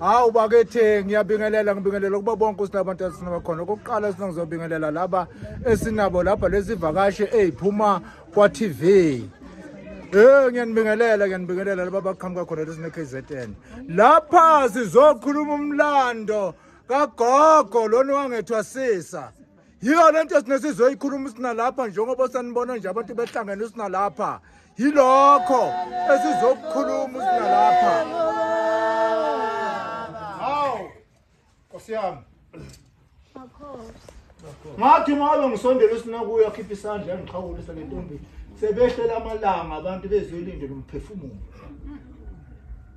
hawu bakethe ngiyabingelela ngibingelela kuba bonke sinabantu esinabakhona okokuqala esinangizobingelela laba esinabo lapha lesivakashi eyiphuma kwa-tv Eh ngiyanibingelela ngiyanibingelela laba baqhamuka khona lesine KZN. Lapha sizokhuluma umlando kagogo lona wangethwasisa. yiyo le nto esinesizoyikhuluma isinalapha njengoba sanibona nje abantu behlangene isinalapha yilokho esizokukhuluma isinalapha hawu nkosi yami ngathi mabe ngisondela usinakuyo akhiphe isandla yangiqhawulisa le ntombi sebehlela amalanga abantu bezoyilindela umphefumulo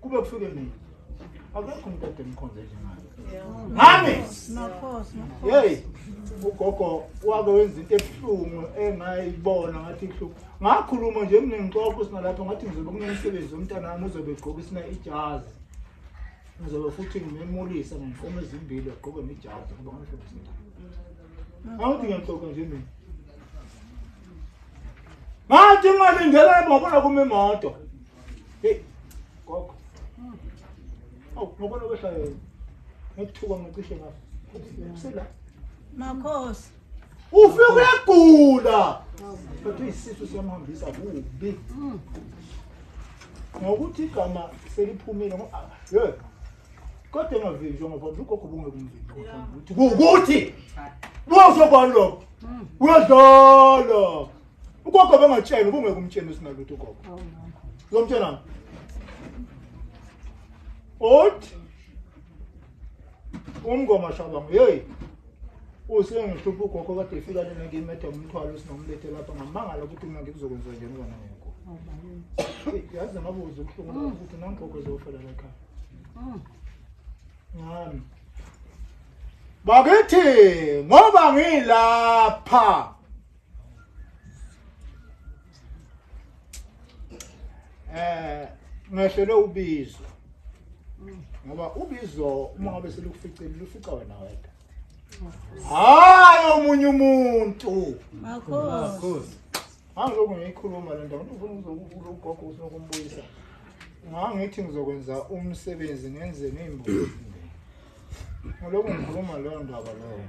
kube kufike mina akekho umuntu ade mkhonze njengayo ngami yeyi ugogo wake wenza into ebuhlungu engayibona ngathi ihlungu ngakhuluma nje kunengixoxo sinalapho ngathi ngizobe kunomsebenzi womntana wami uzobe egqoka isina ijazi ngizobe futhi ngimemulise ngenkomo ezimbili agqoke nejazi kuba ngihlomisela awuthi ngiyaxoxa nje mina ngathi ngalindela ibhokola kumimoto Hey, gogo. Hmm. Awu, ngibona kwehla yena. Ngithuka ngicishe ngafa. Usela. Makhosi. Ufike uyagula. But isisu siyamhambisa kubi. Hmm. Ngokuthi igama seliphumile ngoba ah, yey. Kodwa engavinjwa ngoba ugogo bungekumvinjwa. Ukuthi ukuthi. Bosho kwalokho. Hmm. Uyadlala. ugogo bengatshela ubungeke umtsheni usinalutho ugogo uzomtshelani othi umngoma shabangu yeyi usengihlupha ugogo kade efika lena ngimede umthwalo sinomlethe lapha ngamangala ukuthi mina ngikuzokwenza njani kona ngekho yazi namabuza ubuhlungu lapho ukuthi nangogogo ezofela lakhaya ngami bakithi ngoba ngilapha eh ngehlele ubizo ngoba ubizo uma ngabe selukuficile lufica wena wedwa hayi omunye umuntu makhosi angiloku ngiyikhuluma le nto ngifuna ukuzokula ugogo ufuna ukumbuyisa ngangithi ngizokwenza umsebenzi ngenze ngeyimbuzi ngiloku ngikhuluma leyo ndaba leyo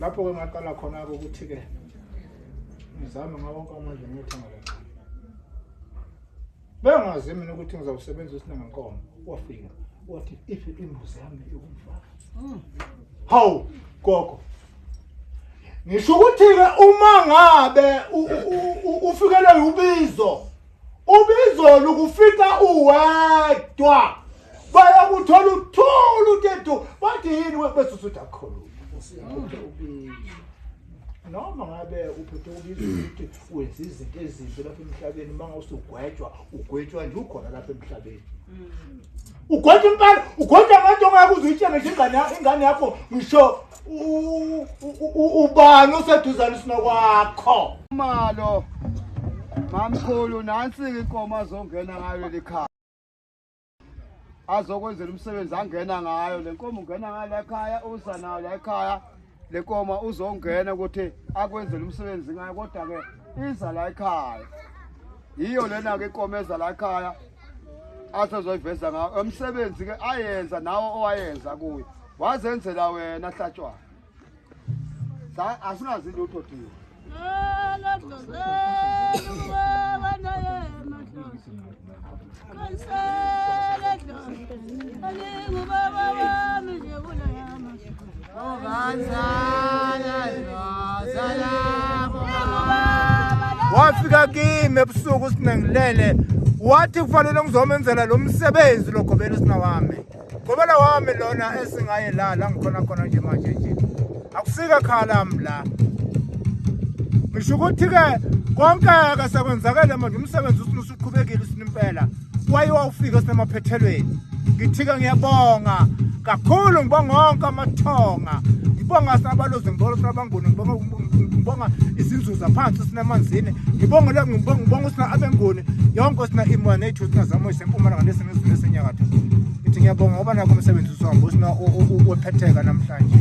lapho-ke ngaqala khona-ke ukuthi-ke ngizame ngawonke amandla ngiyothenga le nkomo bengazi mina ukuthi ngizawusebenza isinangankomo wafika wathi if imbuzi yami ikumfaka hmm. hawu gogo ngisho ukuthi-ke uma ngabe ufikelwe ubizo Ubizolo ukufika uwedwa bayakuthola uthula utetu bathi yini webese usuthi akukhuluma noma ngabe uphethe ubizwa ukuthi wenza izinto ezimbi lapha emhlabeni uma ngawusugwetshwa ugwetshwa nje ukhona lapha emhlabeni ugwetshwa impela ugwetshwa ngathi ongeke uze uyitshenge nje ingane yakho ngisho ubani oseduzane sina kwakho malo mamkhulu nansi-ke inkomo azongena ngayo leli khaya azokwenzela umsebenzi angena ngayo le nkomo ungena ngayo la ekhaya uza nayo la ekhaya le nkomo uzongena ukuthi akwenzele umsebenzi ngayo kodwa-ke iza la ekhaya yiyo lena-ke inkomo eza la ekhaya asezoyiveza ngayo emsebenzi-ke ayenza nawo owayenza kuyo Wazenzela wena hlatshwa. Sa asinazi lutho thiwa. wafika kimi ebusuku sinengilele wathi kufanele ngizomenzela lo msebenzi logobela usina wami Gobela wami lona esingaye la la ngikhona khona nje manje nje. Akusika khala mla. Ngisho ukuthi ke konke ke sekwenzakele manje umsebenzi usuqhubekile sinimpela. Waye wawufika sinemaphethelweni. Ngithika ngiyabonga kakhulu ngibonga onke amathonga. Ngibonga sabalozi ngibonga sabanguni ngibonga ngibonga izinzuza phansi sinamanzini ngibonga la ngibonga ngibonga usina abengoni yonke sina imwa nethu sina zamo isempumalanga lesi ngizwe senyakatho ngithi ngiyabonga ngoba nakho umsebenzi usihamba usina ophetheka namhlanje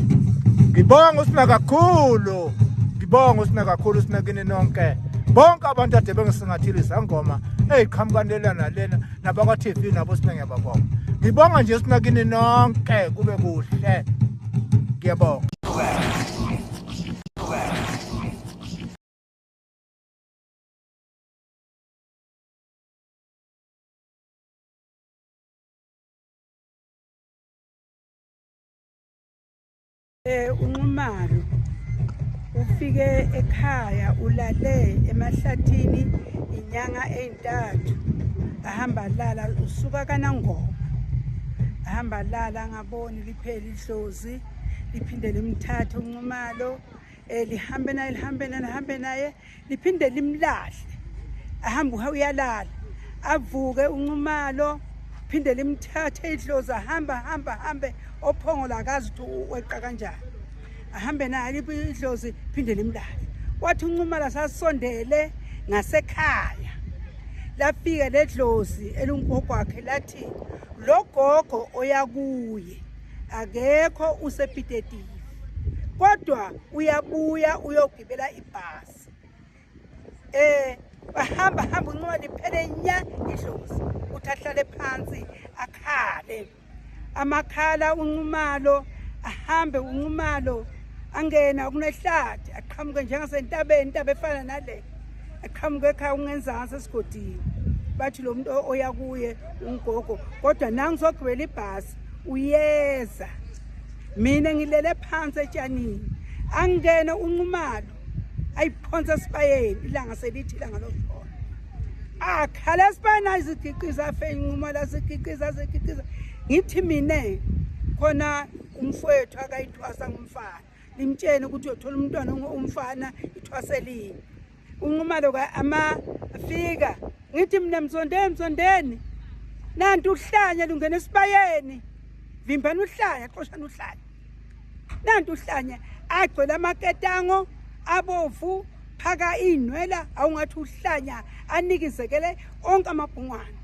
ngibonga usina kakhulu ngibonga usina kakhulu sina kini nonke bonke abantu ade bengisingathile izangoma eyiqhamukani lela nalena nabakwa-tv nabo sina ngiyababonga ngibonga nje sina kini nonke kube kuhle ngiyabonga Eh unxumalo ufike ekhaya ulale emahlathini inyanga ezintathu ahamba lala usuka kanangoma ahamba lala ngaboni lipheli idlozi liphinde limthathe unxumalo um eh, lihambe naye lihambe naye lihambe naye liphinde limlahle ahambe uyalala avuke unxumalo phinde limthathe idlozi ahamba hamba hambe ophongo lakazi ukuthi weqa kanjani ahambe naye idlozi phinde limlale wathi unxumalo sasondele ngasekhaya lafika ledlozi elungogwakhe lathi logogo oyakuye akekho usepitetive kodwa uyabuya uyogibela ibhasi eh bahamba hamba uncoba liphele nya idlozi uthi ahlale phansi akhale amakhala unqumalo ahambe unqumalo angena kunehlathi aqhamuke njengasentabeni intaba efana nale aqhamuke ekhaya ungenzansi esigodini bathi lo muntu oya kuye ungogo kodwa nangisogibela ibhasi uyeza mina ngilele phansi etshanini angene unqumalo ayiphonsa esibayeni ilanga selithi ilanga lokuphona akhala esibayeni azigiqiza afe inqumalo azigiqiza azigiqiza ngithi mina khona umfowethu akayithwasa ngumfana limtshene ukuthi uyothola umntwana umfana ithwaselini unqumalo ka-ama afika ngithi mina msondeni msondeni nanti uhlanya lungena esibayeni vimbani uhlanya xoshani uhlanya nanti uhlanya agcwele amaketango abovu phaka iy'nwela awungathi uhlanya anikizekele onke amabhungwana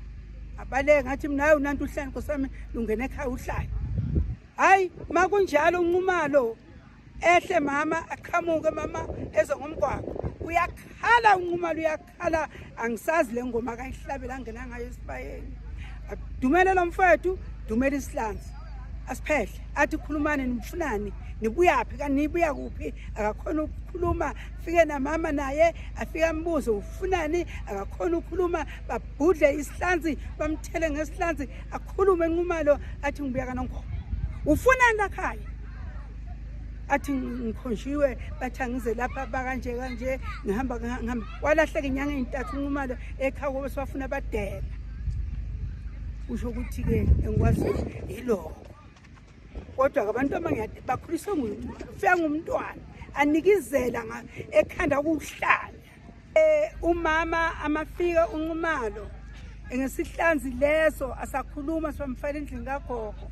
abaleke ngathi mnayo nanti uhlanya nkosami lungena ekhaya uhlanya Hayi makunjalo unqumalo ehle mama aqhamuke mama eze ngomgwaqo uyakhala unqumalo uyakhala angisazi le ngoma akayihlabela angena ngayo esibayeni dumele lo mfowethu dumele isihlanzi asiphehle athi khulumani nifunani nibuyaphi kanibuya kuphi akakhona ukukhuluma fike namama naye afike ambuze ufunani akakhona ukukhuluma babhudle isihlanzi bamthele ngesihlanzi akhulume enqumalo athi ngibuya kanongoma ufunani lakhaya athi ngikhonshiwe bathi angize lapha bakanje kanje ngihamba ngihamba walahleka inyanga ey'ntathu unqumalo ekhawu kobe siwafuna abadela usho ukuthi-ke engikwaziyo yiloko kodwa-ke abantu abangade bakhuliswe nguye ufika ngumntwana anikizela ekhanda kuwuhlanya Eh umama amafika unqumalo ngesihlanzi leso asakhuluma sibamfana endlini kagogo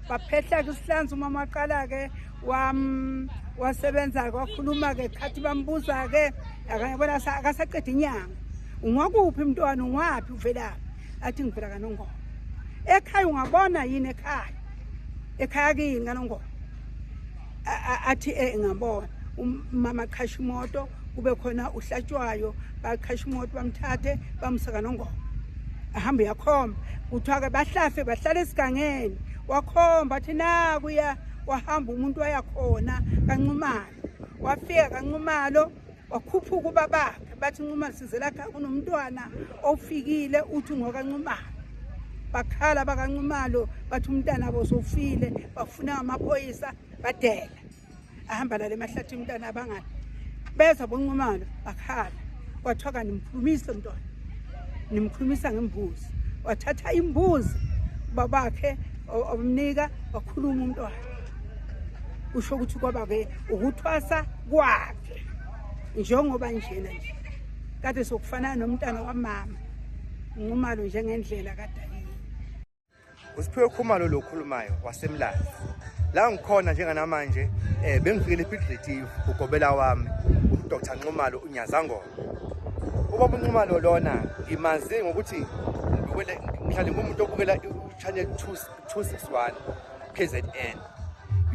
baphehla ke isihlanzi umama waqala ke wam wasebenza ke wakhuluma ke khathi bambuza ke akayibona akasaqeda inyanga ungwakuphi mntwana ungwaphi uvelaphi athi ngivela kanongoma ekhaya ungabona yini ekhaya ekhaya kini kanongoma athi eh ngabona umama um, qhasha imoto kube khona uhlatshwayo baqhasha imoto bamthathe bamsaka nongoma ahambe yakhomba kuthiwa ke bahlafe bahlala esigangeni wakhomba athi naku ya wahamba umuntu wayakhona kancumalo wafika kancumalo wakhuphuka ubabakhe bathi nxumalo sizelakhe kunomntwana ofikile uthi ngokanxumalo bakhala bakanxumalo bathi umntana abo sofile bafuna amaphoyisa badela ahamba lale mahlathi umntana abangani beza bonxumalo bakhala kwathiwa kanti mkhulumisa mntwana nimkhulumisa ngembuzi wathatha imbuzi babakhe omnika wakhuluma umntwana usho ukuthi kwaba-ke ukuthwasa kwakhe njengoba njena nje kade sokufanana nomntana wamama nqumalo njengendlela kadayini usiphiwe khumalo lo khulumayo wasemlazi la ngikhona njenganamanje eh bengifikele epitritive ugobela wami uDr Nxumalo uNyazangoma ubaba uNxumalo lona ngimazi ngokuthi ngiwele mhlawumbe umuntu obukela channel 261 KZN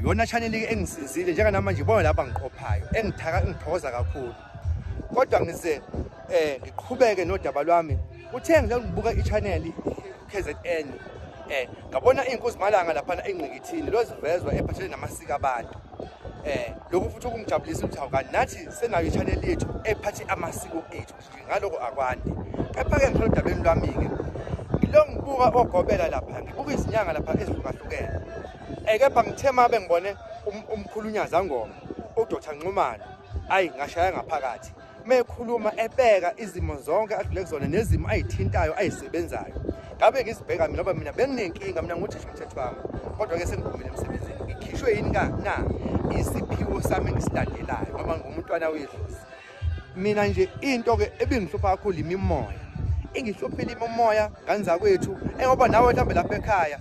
yona channel engisizile njenganamanje ibona lapha ngiqophayo engithaka engithokoza kakhulu kodwa ngize eh ngiqhubeke nodaba lwami uthe ngile ngibuka i-channel KZN eh ngabona inkosi malanga lapha engqikithini lozivezwa ephathele namasiko abantu eh lokhu futhi ukumjabulisa ukuthi awukani nathi senayo i-channel yethu ephathe amasiko ethu ngaloko akwandi kepha-ke ngithole udabeni lwami-ke ngilo ngibuka ogobela lapha ngibuka izinyanga lapha ezihlukahlukene um kepha ngithe ma bengibone um-, umkhulunyaza ngoma udota nxumane ayi ngashaya ngaphakathi mekhuluma ebeka izimo zonke adlule kuzona nezimo ayithintayo ayisebenzayo ngabe ngizibheka mina ngoba mina benginenkinga mina nguthisha umthetho wami kodwa-ke sengivumile emsebenzini ngikhishwe yini ka na isiphiwo sami engisilandelayo ngoba ngumntwana wedlozi mina nje into ke ebingihlupha kakhulu imimoya ingihluphile imimoya kanza kwethu engoba nawe mhlambe lapha ekhaya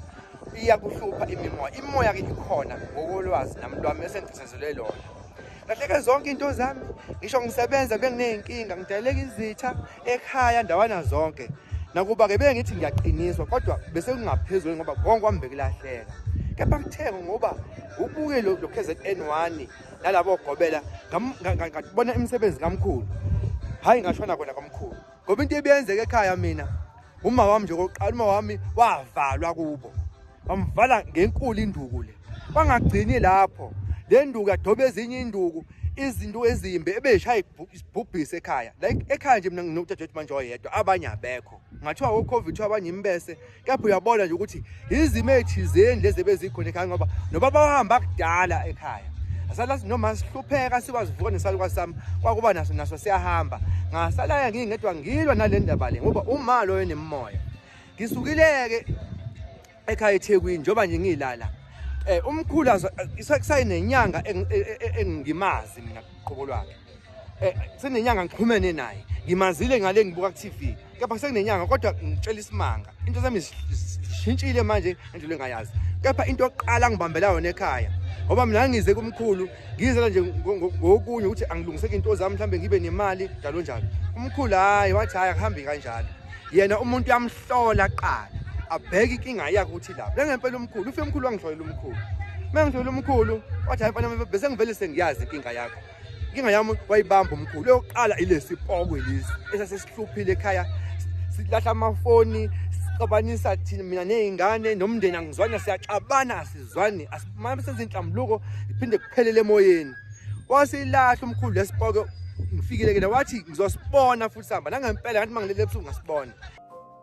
iyakuhlupha imimoya imoya ke ikhona ngokolwazi nami lwami esengithisezelwe lona kahle ke zonke into zami ngisho ngisebenza bengineyinkinga ngidaleka izitha ekhaya ndawana zonke nakuba ke bengithi ngiyaqiniswa kodwa bese kungaphezulu ngoba konke kwambekulahleka kepha kuthenge ngoba ubuke lo KZN1 nalabo ogobela ngabona imisebenzi kamkhulu hayi ngashona kona kamkhulu ngoba into ebiyenzeka ekhaya mina uma wami nje kokuqala uma wami wavalwa kubo bamvala ngenkulu induku le bangagcini lapho le nduku yadoba ezinye induku izinto ezimbi ebeshaya isibhubhisi ekhaya like ekhaya nje mina nginodadewethu manje oyedwa abanye abekho ngathiwa wo-covid kuthiwa abanye imbese kepha uyabona nje ukuthi izimo ezithizeni lezi ebezikhona ekhaya ngoba nobaba wahamba kudala ekhaya asala noma sihlupheka siwazivuka nesaluka sami kwakuba naso naso siyahamba ngasalaya ngingedwa ngilwa nale ndaba le ngoba uma loyo nemimoya ngisukileke ekhaya eThekwini njoba nje ngilala eh umkhulu kusayinenyanga e, e, e, engimazi mina qobo lwakhe Eh, senenyanga ngiqhumene naye ngimazile ngale ngibuka ku-tv kepha sekunenyanga kodwa ngitshela isimanga into zami zishintshile manje endlela engayazi kepha into yokuqala ngibambela yona ekhaya ngoba mina ngize kumkhulu ngizela nje ngokunye ukuthi angilungiseke into zami mhlawumbe ngibe nemali njalo njalo umkhulu hhayi wathi hhayi akuhambi kanjalo yena umuntu uyamhlola kuqala abheke inkinga yakhe ukuthi lapho lengempela umkhulu ufe umkhulu wangihlolela umkhulu uma ngihlolela umkhulu wathi hhayi mfana bese ngivele sengiyazi inkinga yakho inkinga yami wayibamba umkhulu yokuqala ilesi pokwe lesi esasesihluphile ekhaya silahla amafoni sixabanisa thina mina nezingane nomndeni angizwani siyaxabana asizwani asimama senze inhlambuluko iphinde kuphelele emoyeni wasilahla umkhulu lesipoke ngifikile ke wathi ngizosibona futhi sihamba nangempela ngathi mangilele ebusuku ngasibona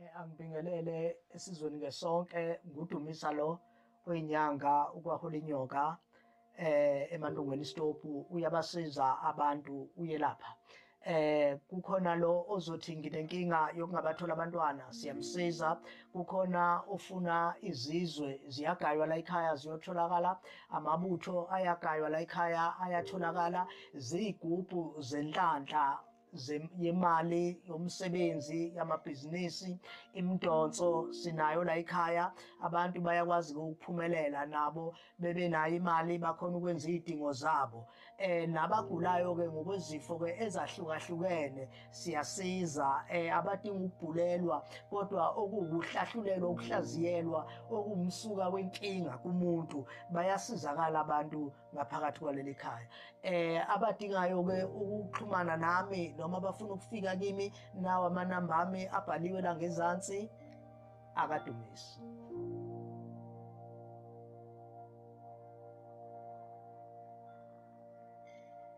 Eh, angibingelele esizweni ke sonke ngudumisa lo oyinyanga ukwahula inyoka eh emandungweni istopu uyabasiza abantu uyelapha eh kukhona lo ozothi nginenkinga yokungabathola abantwana siyamsiza kukhona ofuna izizwe ziyagaywa la ekhaya ziyotholakala amabutho ayagaywa la ekhaya ayatholakala ziyigubhu zenhlanhla yemali yomsebenzi yamabhizinisi imidonso sinayo la ekhaya abantu bayakwazi ukuphumelela nabo bebenayo imali bakhona ukwenza izidingo zabo eh nabagulayo ke ngokwezifo ke ezahlukahlukene siyasiza eh abadinga ukubhulelwa kodwa okuwuhlahlulelwa ukuhlaziyelwa okumsuka wenkinga kumuntu bayasizakala abantu ngaphakathi kwaleli khaya eh abadingayo ke ukuxhumana nami noma abafuna ukufika kimi nawa amanamba ami abhaliwe la ngezansi akadumisi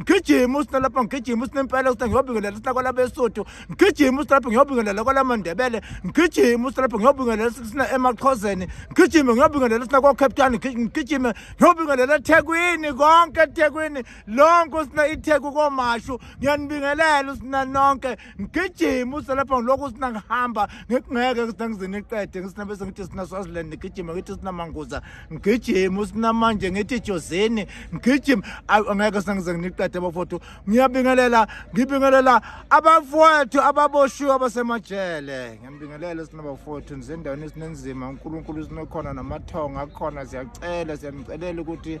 ngigijima usina lapha ngigijima usina impela usina ngiyobingelela usina kwalabesuthu ngigijima usina lapha ngiyobingelela kwalamandebele ngigijima usina lapha ngiyobingelela usina emaqhozeni ngigijime ngiyobingelela usina kwacape town ngigijime ngiyobingelela ethekwini konke ethekwini lonke usina itheku komashu ngiyanibingelela usina nonke ngigijima uselapha ngilokhu sinangihamba ngikungeke sinangizini iqede ngisinabe sengithi sina swaziland ngigijima ngithi sinamanguza ngigijima usinamanje ngithi jozini ngigijima angeke sinangize nginiqede abafowethu ngiyabingelela ngibingelela abafowethu ababoshiwe abasemajele ngiyambingelela sinabafowethu nizendaweni esinenzima unkulunkulu sinokhona namathongo akhona siyacela siyanicelela ukuthi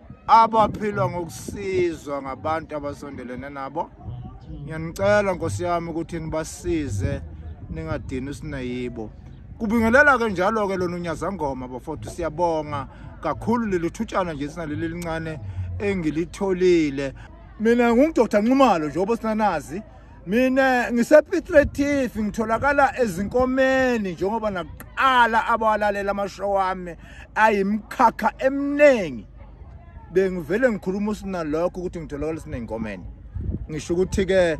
abaphila ngokusizwa ngabantu abasondelene nabo ngiyanicela nkosi yami ukuthi nibasize ningadini usinayibo kubingelela ke njalo ke lona unyazangoma bafowethu siyabonga kakhulu leli thutshana nje sinaleli lincane engilitholile mina ngungidoktar nxumalo njengoba sinanazi mina ngisepiet retif ngitholakala ezinkomeni njengoba nakuqala abawalalela amashow wami ayimkhakha eminingi bengivele ngikhuluma usinalokho ukuthi ngitholakala esiney'nkomeni ngisho ukuthi-ke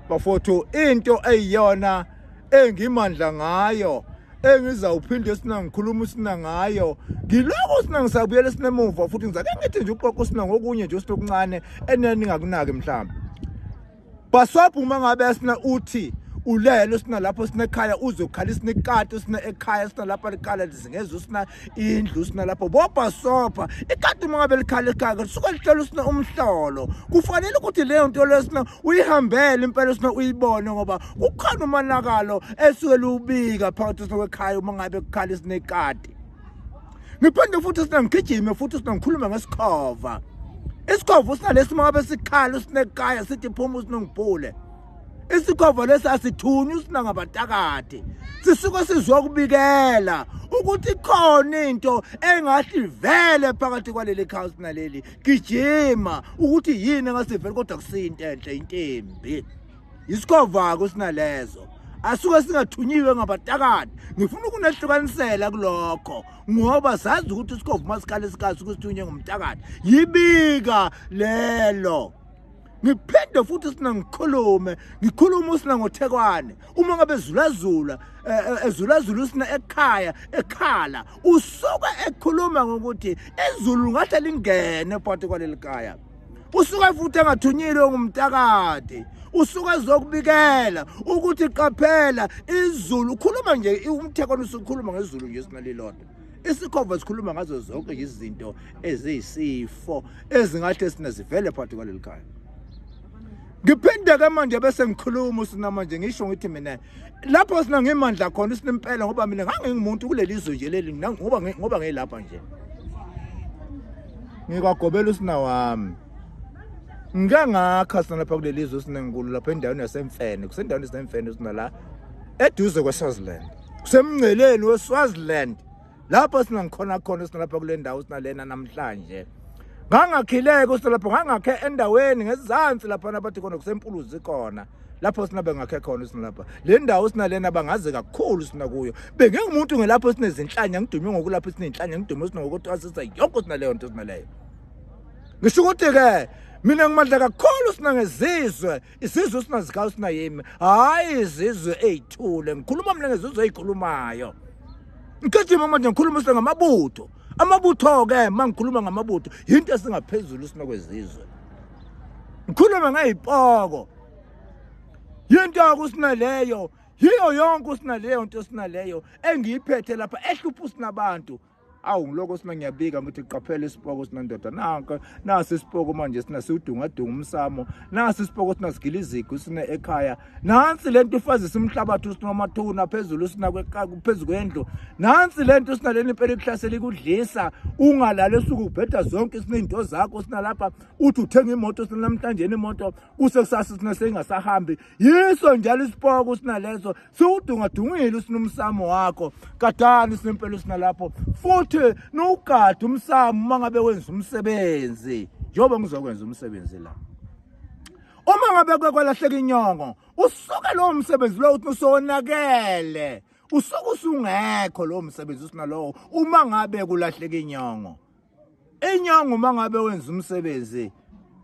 bafowethu into eyiyona engimandla ngayo engizawuphinde esina ngikhuluma usina ngayo ngiloko usina ngisabuyela esinemuva futhi ngizake ngithi nje uqoqa usina ngokunye nje usina okuncane eneni ngakunaki mhlawumbe Baswaphu uma ngabe sina uthi ulele sina lapho sinekhaya uzokhala isinikati sina ekhaya sina lapha likhala lizingezwe sina indlu sina lapho bobha sofa ikati uma ngabe likhala ekhaya kusuke lihlola sina umhlolo kufanele ukuthi leyo nto leyo sina uyihambele impela sina uyibone ngoba kukhona umanakalo esuke lubika phakathi sina kwekhaya uma ngabe kukhala isinekati ngiphinde futhi sina ngigijime futhi sina ngikhulume ngesikhova isikhova usinalesi mabe sikhala usinekaya sithi phuma usinongibhule isikhova lesi asithunywa usinangabatakati sisuke sizwa ukubikela ukuthi khona into engathi vele phakathi kwaleli khawusi naleli gijima ukuthi yini engasiveli kodwa kusiyinto enhle intembi Isikovako sinalezo. Asuke singathunyiwe ngabatakani. Ngifuna ukunehlukanisela kulokho ngoba sazi ukuthi isikhovu masikhale sikasi ukusithunye ngomtakani. Yibika lelo. ngiphinde futhi sina ngikhulume ngikhuluma usina ngothekwane uma ngabe zulazula eh, eh, ezulazula usina ekhaya ekhala usuke ekhuluma ngokuthi ezulu ngahle lingene phakathi kwaleli kaya usuke futhi engathunyile ongumtakade usuke ezokubikela ukuthi qaphela izulu ukhuluma nje umthekwana usukhuluma ngezulu nje sinalilodwa isikhova sikhuluma ngazo zonke izinto eziyisifo ezingahle sina zivele phakathi kwaleli khaya ngiphinde ke manje bese ngikhuluma usinamanje ngisho ngithi mina lapho sina ngemandla khona sinempela ngoba mina ngangingumuntu kuleli zwe nje leli ngoba ngoba ngilapha nje ngikwagobela usina wami ngike ngakha sina lapha kuleli zwe sinenkulu lapha endaweni yasemfene kusendaweni yasemfene sina la eduze kweSwaziland kusemngceleni weSwaziland lapho sinangikhona khona sinalapha kule ndawo sinalena namhlanje ngangakhileke usilapho ngangakhe endaweni ngezansi laphana bathi khona kusempuluzi khona lapho sina bengakhe khona sinalapha le ndawo sinalena bangaze kakhulu sina kuyo bengingumuntu ngelapho sinezinhlanya ngidume ngokulapho sinenhlanya ngidume sinokutwasisa yonke sinaleyo nto sinaleyo ngisho ukuthi-ke mina ngimandla kakhulu sina ngezizwe isizwe esinazikayo sinayimi hhayi izizwe ey'thule ngikhuluma mina ngezizwe ey'khulumayo ngigijima manje ngikhuluma sile ngamabutho amabutho-ke uma ngikhuluma ngamabutho yinto esingaphezulu sinokwezizwe ngikhulume ngey'poko yinto yako usinaleyo yiyo yonke usinaleyo nto esinaleyo engiyiphethe lapha ehlupha usinabantu awu ngiloko sina ngiyabika ngithi qaphela isipoko sina ndoda nanke nasi isipoko manje sina siwudungadunga umsamo nasi isipoko sina sigila izigu sina ekhaya nansi lento ifazi simhlabathi usina amathuna phezulu sina phezulu kwendlu nansi lento sina leni impela ikuhlasela ikudlisa ungalala esuku ubheda zonke sina into zakho sina lapha uthi uthenga imoto sina namhlanje imoto kuse kusasa sina sengasahambi yiso njalo isipoko sina leso siwudungadungile usinumsamo wakho gadani sinempela usinalapho futhi nowugade umsamo uma ngabe wenza umsebenzi njengoba ngizokwenza umsebenzi la uma ngabe kwelahleka inyongo usuke lowo msebenzi lowo uthi usonakele usuke usungekho lowo msebenzi usinalowo uma ngabe kulahleka inyongo Inyanga uma ngabe wenza umsebenzi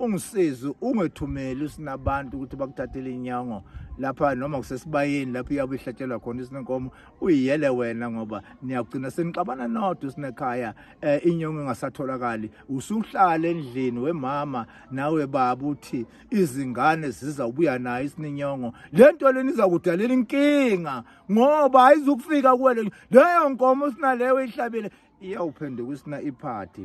ungisize ungethumeli sinabantu ukuthi bakuthathele inyango lapha noma kusesibayeni lapho iyabe ihlatshelwa khona isinenkomo uyiyele wena ngoba niyagcina senixabana nodwa sinekhaya eh, inyongo engasatholakali usuhlala endlini wemama nawe baba uthi izingane zizawubuya nayo isinenyongo le nto leni izakudalela inkinga ngoba ayizukufika kuwe leyo nkomo sinaleyo ihlabile iyawuphenduka usina iphathi